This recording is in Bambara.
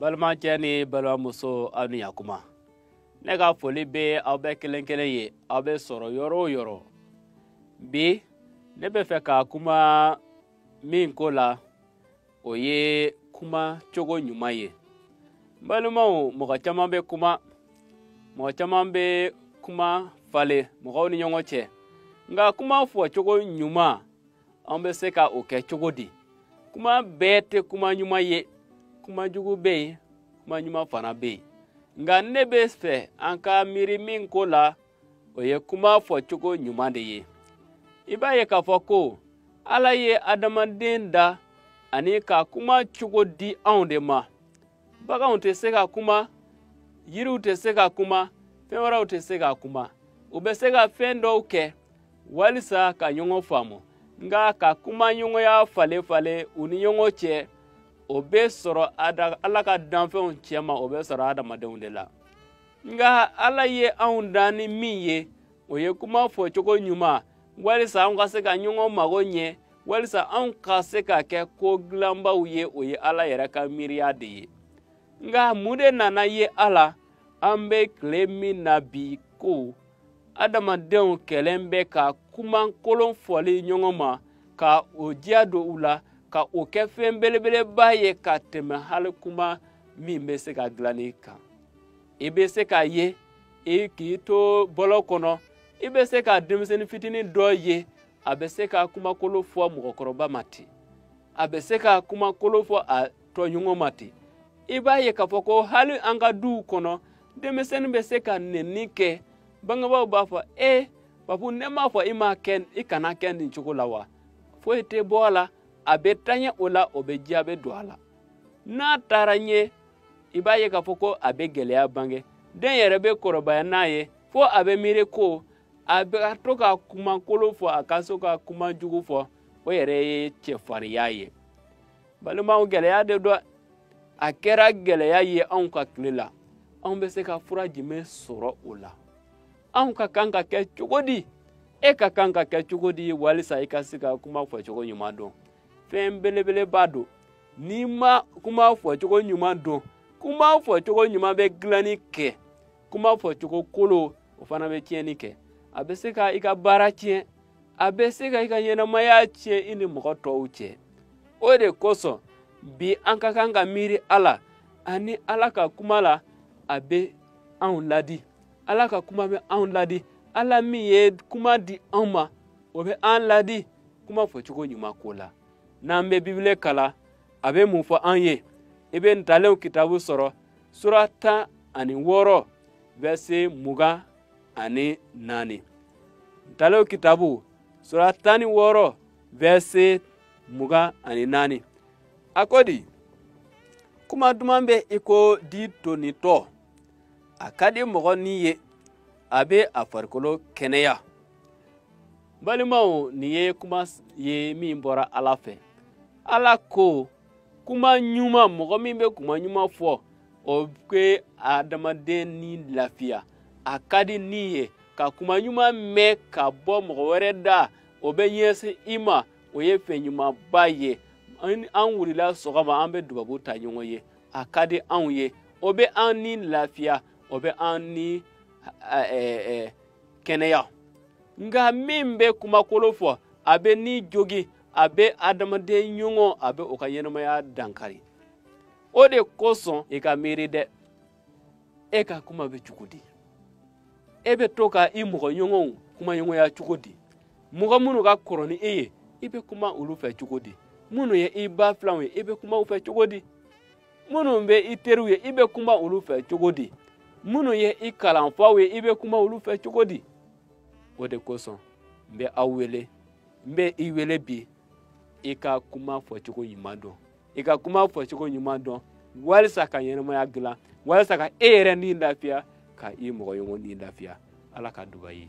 balimacɛ ni balimamuso aw ni yakuma ne ka foli bɛ aw bɛɛ kelen kelen ye aw bɛ sɔrɔ yɔrɔ o yɔrɔ bi ne bɛ fɛ ka kuma min ko la o ye kuma cogo ɲuman ye balimaw mɔgɔ caman bɛ kuma mɔgɔ caman bɛ kuma falen mɔgɔw ni ɲɔgɔn cɛ nka kuma fɔcogo ɲuman an bɛ se ka o kɛ cogo di kuma bɛɛ tɛ kuma ɲuman ye kuma jugu bɛ yen kuma ɲuman fana bɛ yen nka ne bɛ fɛ an ka miiri min ko la o ye kuma fɔcogo ɲuman de ye i b'a ye k'a fɔ ko ala ye adamaden da ani ka kuma cogo di anw de ma baganw tɛ se ka kuma yiriw tɛ se ka kuma fɛn wɛrɛw tɛ se ka kuma u bɛ se ka fɛn dɔw kɛ walisa ka ɲɔgɔn faamu nka ka kuma ɲɔgɔnya falen falen u ni ɲɔgɔn cɛ o bɛ sɔrɔ ala ka danfɛnw cɛma o bɛ sɔrɔ adamadenw de la nka ala ye anw dan ni min ye o ye kuma fɔ cogo ɲuman walisa anw ka se ka ɲɔgɔn mago ɲɛ walisa anw ka se ka kɛ ko dilanbaw ye o ye ala yɛrɛ ka miiriya de ye nka mun de nana ye a la an bɛ tile min na bi ko adamadenw kɛlen bɛ ka kumakolon fɔli ɲɔgɔn ma ka o diya don u la ka o kɛ fɛn belebeleba ye ka tɛmɛ hali kuma min bɛ se ka dilanni kan i bɛ se k'a ye i k'i to bɔlɔn kɔnɔ i bɛ se ka denmisɛnnin fitinin dɔ ye a bɛ se ka kumakolon fɔ mɔgɔkɔrɔba ma ten a bɛ se ka kumakolon fɔ a tɔɲɔgɔn ma ten i b'a ye k'a fɔ ko hali an ka duw kɔnɔ denmisɛnnin bɛ se ka nɛni kɛ bangebaaw b'a fɔ e babu ne m'a fɔ i ma k'i kana kɛ nin cogo la wa foyi tɛ bɔ a la a bɛ taɲɛ o la o bɛ diya bɛ don a la n'a taara ɲɛ i b'a ye k'a fɔ ko a bɛ gɛlɛya bange den yɛrɛ bɛ kɔrɔbaya n'a ye fo a bɛ miiri ko a bɛ ka to ka kumakolon fɔ a ka so ka kuma jugu fɔ o yɛrɛ ye cɛfarinya ye balimaw gɛlɛya de don a kɛra gɛlɛya ye anw ka tile la anw bɛ se ka fura jumɛn sɔrɔ o la anw ka kan ka kɛ cogo di e ka kan ka kɛ cogo di walisa i ka se ka kuma fɔcogo ɲuman dɔn fɛn belebeleba don n'i ma kuma fɔcogo ɲuman dɔn kuma fɔcogo ɲuman bɛ dilanni kɛ kuma fɔcogo kolon o fana bɛ tiɲɛni kɛ a bɛ se ka i ka baara tiɲɛ a bɛ se ka i ka ɲɛnamaya tiɲɛ i ni mɔgɔ tɔw cɛ o de kosɔn bi an ka kan ka miiri ala ani ala ka kuma la a bɛ anw ladi ala ka kuma bɛ anw ladi ala min ye kuma di anw ma o bɛ an ladi kuma fɔcogo ɲuman ko la n'an bɛ bibile kalan a bɛ mun fɔ an ye i bɛ ntalenw kitabu sɔrɔ sura tan ani wɔɔrɔ vɛrse mugan ani naani ntalenw kitabu sura tan ni wɔɔrɔ vɛrse mugan ani naani a ko di kuma duman bɛ i ko di tonitɔ a ka di mɔgɔ ni ye a bɛ a farikolo kɛnɛya balimaw nin ye kuma ye min bɔra ala fɛ ala ko kuma ɲuman mɔgɔ min bɛ kuma ɲuman fɔ o bɛ adamaden ni lafiya a ka di ni ye ka kuma ɲuman mɛn ka bɔ mɔgɔ wɛrɛ da o bɛ ɲɛsin i ma o ye fɛn ɲumanba ye an wurila sɔgɔma an bɛ dubabu ta ɲɔgɔn ye a ka di anw ye o bɛ an ni lafiya o bɛ an ni kɛnɛya nga min bɛ kuma kolon fɔ a bɛ ni jogi a bɛ adamaden ɲɔgɔn a bɛ o ka ɲɛnamaya dankari o de kosɔn i ka miiri dɛ e ka kuma bɛ cogo di e bɛ to ka i mɔgɔ ɲɔgɔnw kumaɲɔgɔnya cogo di mɔgɔ minnu ka kɔrɔ ni e ye i bɛ kuma olu fɛ cogo di minnu ye i ba filanw ye i bɛ kuma u fɛ cogo di minnu bɛ i teriw ye i bɛ kuma olu fɛ cogo di minnu ye i kalanfaw ye i bɛ kuma olu fɛ cogo di o de kosɔn n bɛ aw wele n bɛ i wele bi i ka kuma fɔcogo ɲuman dɔn i ka kuma fɔcogo ɲuman dɔn walisa ka ɲɛnamaya gilan walisa ka e yɛrɛ ni lafiya ka i mɔgɔ ɲɔgɔn ni lafiya ala ka duba i ye